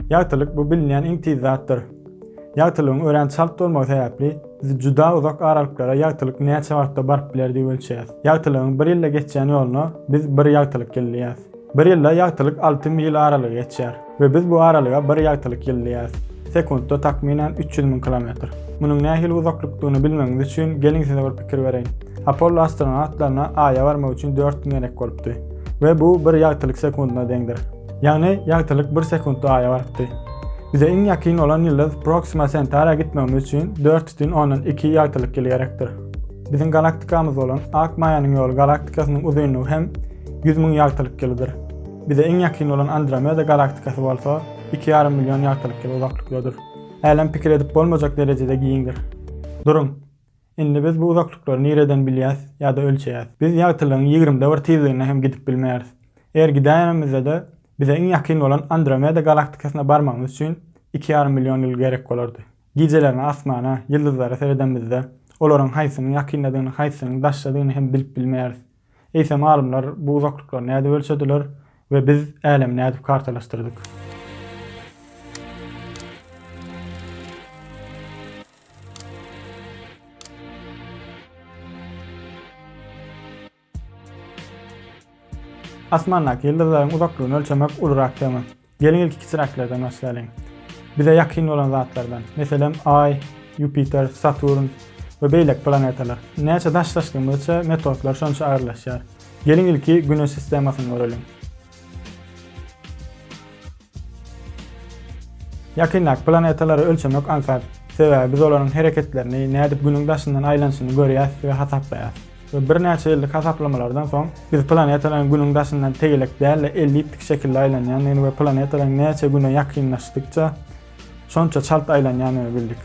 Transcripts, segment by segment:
Ýagtylyk bu bilinýän iň tiz zatdyr. Ýagtylygyň örän çalt bolmagy sebäpli, biz juda uzak aralyklara ýagtylyk näçe wagtda baryp biler diýip ölçeýäs. Ýagtylygyň bir ýylda geçýän ýoluna biz bir ýagtylyk ýyl diýýäs. Bir ýylda ýagtylyk alty mil aralygy geçýär we biz bu aralyga bir ýagtylyk ýyl diýýäs. Sekuntda takmynan üç ýüz müň kilometr. Munuň nähili uzaklykdygyny bilmegiňiz üçin, geliň size bir pikir bereýin. Apollo astronawtlaryna Aýa barmak üçin dört gün gerek bolupdy we bu bir ýagtylyk sekundyna deňdir. Ýagny, ýagtylyk bir sekuntda Aýa barypdy. Bize iň ýakyn bolan ýyldyz Proksima Sentara gitmegimiz üçin dört bütin ondan iki ýagtylyk ýyly gerekdir. Biziň galaktikamyz bolan Ak maýanyň ýoly galaktikasynyň uzynlygy hem ýüz müň ýagtylyk ýylydyr. Bize iň ýakyn bolan Andromeda galaktikasy bolsa iki ýarym million ýagtylyk ýyly uzaklykdadyr. Älem pikir edip bolmajak derejede giňdir. Duruň! Indi biz bu uzaklyklary nireden bilýäs ýa-da ölçeýäs? Biz ýagtylygyň ýigrimide bir tizligine hem gidip bilmeýäris. Eger gidäýenimizde-de, bize iň ýakyn bolan Andromeda galaktikasyna barmagymyz üçin iki ýarym million ýyl gerek bolardy. Gijelerine asmana, ýyldyzlara seredemizde, olaryň haýsynyň ýakyndadygyny, haýsynyň daşdadygyny hem bilip bilmeýäris. Eýsem alymlar bu uzaklyklary nädip ölçediler we biz älemi nädip kartalaşdyrdyk? Asmandaky ýyldyzlaryň uzaklygyny ölçemek ulurak tema. Geliň ilki kiçiräklerden başlaýlyň. Bize ýakyn bolan zatlardan, meselem, Aý, Ýupiter, Saturn we beýleki planetalar. Näçe daşlaşdygymyzça metodlar şonça agyrlaşýar. Geliň ilki Güneş sistemasyny göreliň. Ýakyndaky planetalary ölçemek aňsat, sebäbi biz olaryň hereketlerini, nädip Günüň daşyndan aýlanyşyny görýäs we hasaplaýas. Birnäçe ýyllyk hasaplamalardan soň, biz planetalaryň Günüň daşyndan tegelek däl-de, elliptik şekilde aýlanýandygyny we planetalaryň näçe Güne ýakynlaşdykça, şonça çalt aýlanýandygyny bildik.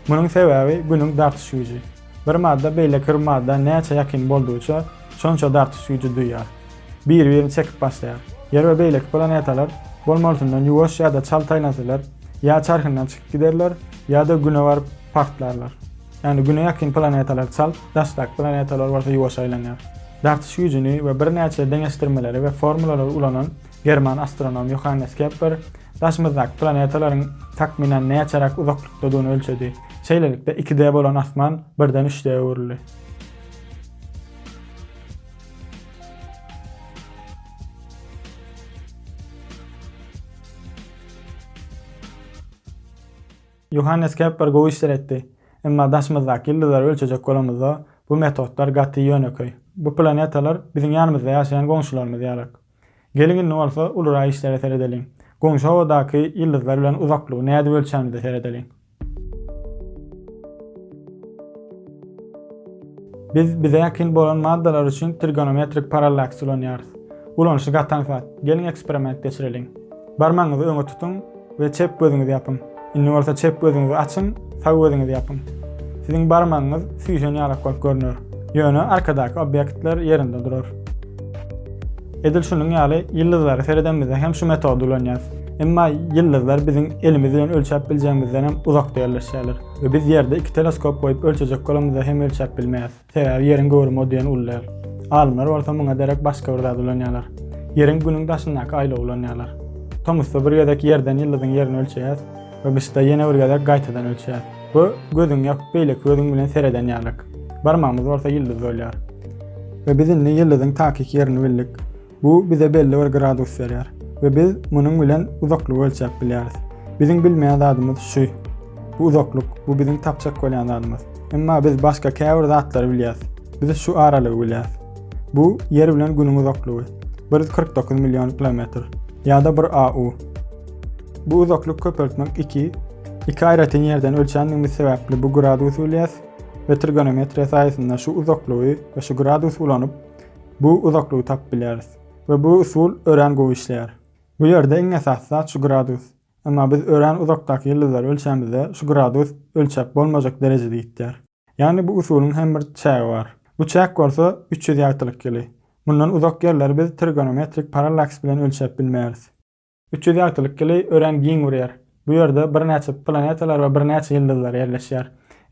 Munuň sebäbi Günüň dartyş güýji. Bir madda beýleki bir madda näçe ýakyn boldugyça, şonça dartyş güýji duýýar. Biri-birini çekip başlaýar. Ýer we beýleki planetalar bolmalysyndan ýuwaş ýa-da çalt aýlansalar, ýa çarhyndan çykyp giderler, ýa-da Güne baryp, partlarlar. Ýagny Güne ýakyn planetalar çalt, daşdaky planetalar bolsa ýuwaş aýlanýar. Dartyş güýjüni we birnäçe deňeşdirmeleri we formulalary ulanan german astronomy Ýohannes Kepler daşymyzdaky planetalaryň takmynan näçeräk uzaklykdadygyny ölçedi. Şeýlelikde, iki D bolan asman birden üç D öwrüldi. Ýohannes Kepler gowy işler etdi. Emma daşymyzdaky ýyldyzlary ölçejek bolamyzda, bu metodlar gaty ýönekeý. Bu planetalar biziň ýanymyzda ýaşaýan goňşularymyz ýalyk. Geliň indi bolsa ulurak işlere seredeliň. Goňşy howadaky ýyldyzlar bilen uzaklygy nädip ölçänimize seredeliň. Biz bize ýakyn bolan maddalar üçin trigonometrik parallaks ulanýarys. Ulanyşy gaty aňsat. Geliň eksperiment geçireliň. Barmagyňyzy öňe tutuň. We çep gözüňizi ýapyň. Indi bolsa çep gözüňizi açyň, sag gözüňizi ýapyň. Siziň barmagyňyz süýşen ýalak bolup görüner. Ýöne arkadaky obýektler ýerinde durar. Edil şunuň ýaly ýyldyzlara seredemizde hem şu metody ulanýarys. Emma ýyldyzlar biziň elimiz bilen ölçäp biljegimizden hem uzakda ýerleşýärler we biz Ýerde iki teleskop goýup ölçejek bolamyzda hem ölçäp bilmeýäris. Sebäbi Ýeriň göwrümi o diýen uly däl. Alymlar bolsa muňa derek başga bir zat ulanýarlar. Ýeriň Günüň daşyndaky aýlawy ulanýarlar. Tomusda bir gezek Ýerden ýyldyzyň ýerini ölçeýäs we gyşda ýene bir gezek gaýtadan ölçeýäs. Bu gözüňi ýapyp beýleki gözüň bilen sereden ýalyk. Barmagymyz bolsa ýyldyz bolýar. We biz indi ýyldyzyň takyk ýerini bildik. Bu bize belli bir gradus berýär we biz munuň bilen uzaklygy ölçäp bilýäris. Biziň bilmeýän zadymyz şu. Bu uzaklyk, bu biziň tapjak bolýan zadymyz. Emma biz başga käbir zatlary bilýäris. Biz şu aralygy bilýäris. Bu Ýer bilen Günüň uzaklygy. 149 million kilometr. Ýa-da bir AU. Bu uzaklyk köpeltmek 2. Iki aýratyn ýerden ölçändigimiz sebäpli bu gradusy bilýäris we trigonometriýa saýasynda şu uzaklygy we şu gradusy ulanyp, Bu uzaklygy tapyp bilýäris. We bu usul örän gowy işleýär. Bu ýerde iň esasy zat şu gradus. Emma biz örän uzakdaky ýyldyzlary ölçämizde şu gradus ölçäp bolmajak derejede ýitýär. Ýagny bu usulyň hem bir çägi bar. Bu çäk bolsa üç ýüz ýagtylyk ýyly. Mundan uzak ýerleri biz trigonometrik parallaks bilen ölçäp bilmeýäris. Üç ýüz ýagtylyk ýyly örän giň urýar. Bu ýerde birnäçe planetalar we birnäçe ýyldyzlar ýerleşýär.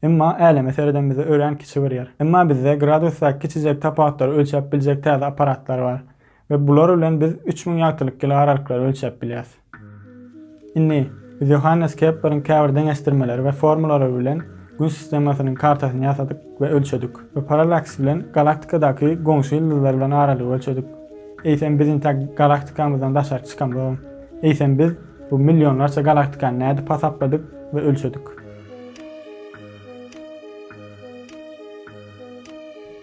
Emma Äleme seredemizde örän kiçi urýar. Emma bizde gradusdaky kiçijek tapawutlary ölçäp biljek täze apparatlar bar we bular bilen biz üç müň ýagtylyk ýyly aralyklary ölçäp bilýäs. Indi, biz Ýohannes Kepleriň käbir deňeşdirmeleri we formulalary bilen Gün sistemasynyň kartasyny ýasadyk we ölçedik we parallaks bilen galaktikadaky goňşy ýyldyzlar bilen aralygy ölçedik. Eýsem biz intäk galaktikamyzdan daşary çykamyzam, eýsem biz bu millionlarça galaktikany nädip hasapladyk we ölçedik?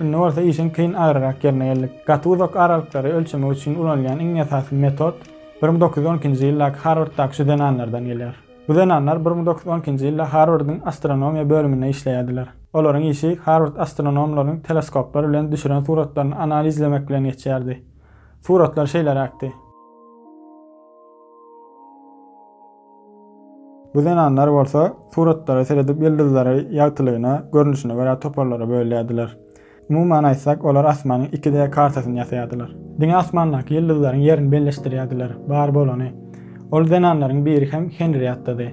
Indi bolsa işiň kyn agyryrak ýerine geldik. Gaty uzak aralyklary ölçemek üçin ulanylýan iň esasy metod bir müň dokuz ýüz on ikinji ýyldaky Harwarddaky şu zenanlardan gelýär. Bu zenanlar bir müň dokuz ýüz on ikinji ýylda Harwardyň astronomiýa bölüminde işleýärdiler. Olaryň işi Harward astronomlarynyň teleskoplar bilen düşüren suratlaryny analizlemek bilen geçýärdi. Suratlar şeýleräkdi. Bu zenanlar bolsa suratlara seredip ýyldyzlary ýagtylygyna, görnüşine görä toparlara bölýärdiler. Umuman aýtsak, olar asmanyň iki D kartasyny ýasaýardylar. Diňe asmandaky ýyldyzlaryň ýerini belleşdirýärdiler, bar bolany. Ol zenanlaryň biri hem Henriattady.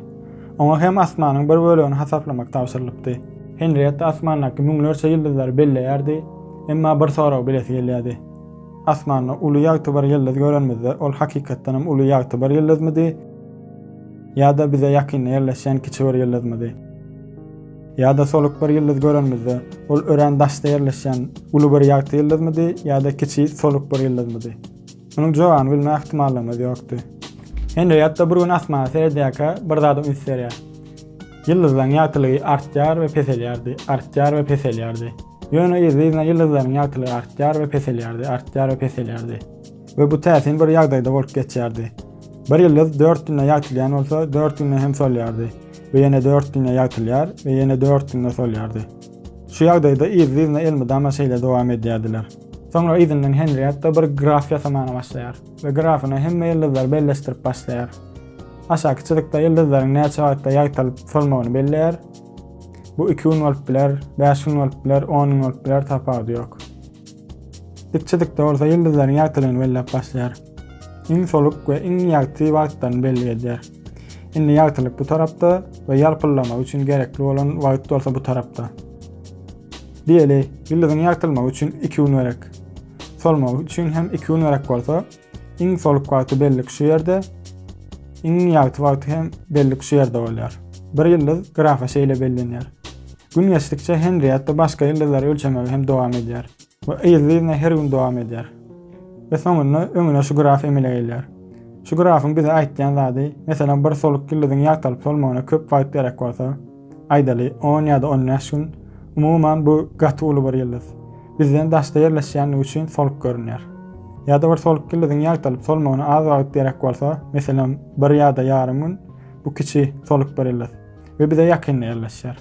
Oňa hem asmanyň bir bölegini hasaplamak tabşyrylypdy. Henriatta asmandaky müňlerçe ýyldyzlary belleýärdi, emma bir soragy bilesi gelýärdi. Asmanda uly ýagtybar ýyldyz görenimizde, ol hakykatdan hem uly ýagtybar ýyldyzmydy ýa-da bize ýakynda ýerleşýän kiçi bir ýyldyzmydy? Ýa-da soluk bir ýyldyz görenimizde, ol örän daşda ýerleşýän uly bir ýagty ýyldyzmydy ýa-da kiçi soluk bir ýyldyzmydy? Munuň jogabyny bilme ähtimallygymyz ýokdy. Henrietta bir gün asmana seredýärkä, bir zada üns berýär. Ýyldyzlaryň ýagtylygy artýar we peselýärdi, artýar we peselýärdi. Ýöne yzly-yzyna ýyldyzlaryň ýagtylygy artýar we peselýärdi, artýar we peselýärdi. We bu täsin bir ýagdaýda bolup geçýärdi. Bir ýyldyz dört günde ýagtylýan bolsa, dört günde hem solýardy we ýene dört günde ýagtylýar we ýene dört günde solýardy. Şu ýagdaýda yzly-yzyna elmydama şeýle dowam edýärdiler. Soňra yzyndan Henrietta bir graf ýasamaga başlaýar we grafyna hemme ýyldyzlary belleşdirip başlaýar. Aşaky çyzykda ýyldyzlaryň näçe wagtda ýagtylyp solmagyny belleýär. Bu iki gün bolup biler, bäş gün bolup biler, on gün bolup biler, tapawudy ýok. Dikçilikde bolsa ýyldyzlaryň ýagtylygyny belläp başlaýar. Iň soluk we iň ýagty wagtlaryny belli edýär. Indi ýagtylyk bu tarapda we ýalpyldama üçin gerekli bolan wagt bolsa bu tarapda. Diýeli, ýyldyzyň ýagtylmagy üçin iki gün gerek. Solmagy üçin hem iki gün gerek bolsa, Iň soluk wagty bellik şu ýerde, iň ýagty wagty hem bellik şu ýerde bolýar. Bir ýyldyz grafa şeýle bellenýär. Gün geçdikçe Henrietta başga ýyldyzlary ölçemegi hem dowam edýär we yzly-yzyna her gün dowam edýär. We soňunda öňüne şu graf emele gelýär. Şu grafyň bize aýtýan zady, meselem bir soluk ýyldyzyň ýagtalyp solmagyna köp wagt gerek bolsa, Aýdaly, on ýa-da on bäş gün. Umuman, bu gaty uly bir ýyldyz. Bizden daşda ýerleşýänligi üçin soluk görünýär. Ýa-da bir soluk ýyldyzyň ýagtalyp solmagyna az wagt gerek bolsa, meselem, bir ýa-da ýarym gün, bu kiçi soluk bir ýyldyz we bize ýakynda ýerleşýär.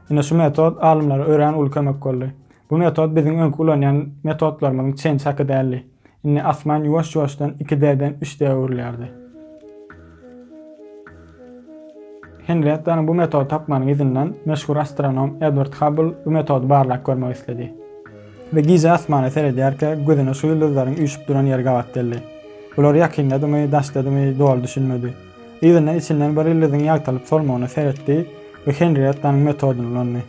Ine, şu metod alymlara örän uly kömek boldy. Bu metod biziň öňki ulanýan metodlarymyzyň çen-çaky däldi. Indi asman ýuwaş-ýuwaşdan iki D-den üç D-e öwrülýärdi. Henriettanyň bu metody tapmanyň yzyndan meşhur astronom Edward Habbl bu metody barlap görmek isledi we gije asmana seredýärkä gözüne şu ýyldyzlaryň üýşüp duran ýeri gabat geldi. Bular ýakyndadymy, daşdadymy doly düşünmedi. Yzyndan içinden bir ýyldyzyň ýagtylyp solmagyna seretdi we Henriettanyň metodyny ulandy.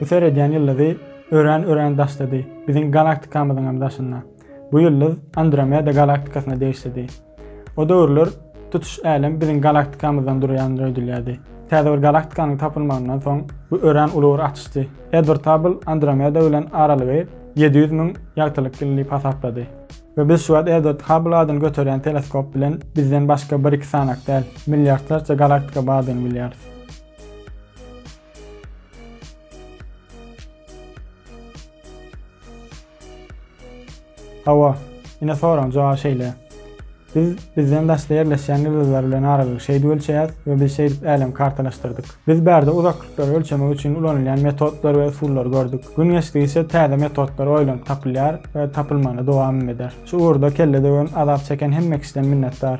Bu seredýän ýyldyzy örän örän daşdady, biziň galaktikamyzyňam daşynda. Bu ýyldyz Andromeda galaktikasyna degişlidi. O döwürler tutuş älem biziň galaktikamyzdan durýandyr öýdülýärdi. Täze bir galaktikanyň tapylmagyndan soň bu örän uly bir açyşdy. Edward Habbl Andromeda bilen aralygy ýedi ýüz müň ýagtylyk ýyl diýip hasaplady. We biz şu wagt Edward Habbl adyny göterýän teleskop bilen bizden başga bir-iki sanak däl, milliardlarça galaktika bardygyny bilýäris. Hawa, ine soragyň jogaby şeýle. Biz bizden daşda ýerleşýän ýyldyzlar bilen aralygy şeýdip ölçeýäs we biz şeýdip älemi kartalaşdyrdyk. Biz bärde uzaklyklary ölçemek üçin ulanylýan metodlary we usullary gördük. Gün geçdigiçe täze metodlar oýlanyp tapylýar we tapylmagyna dowamym eder. Şu ugurda kelle döwen, azap çeken hemme kişiden minnetdar.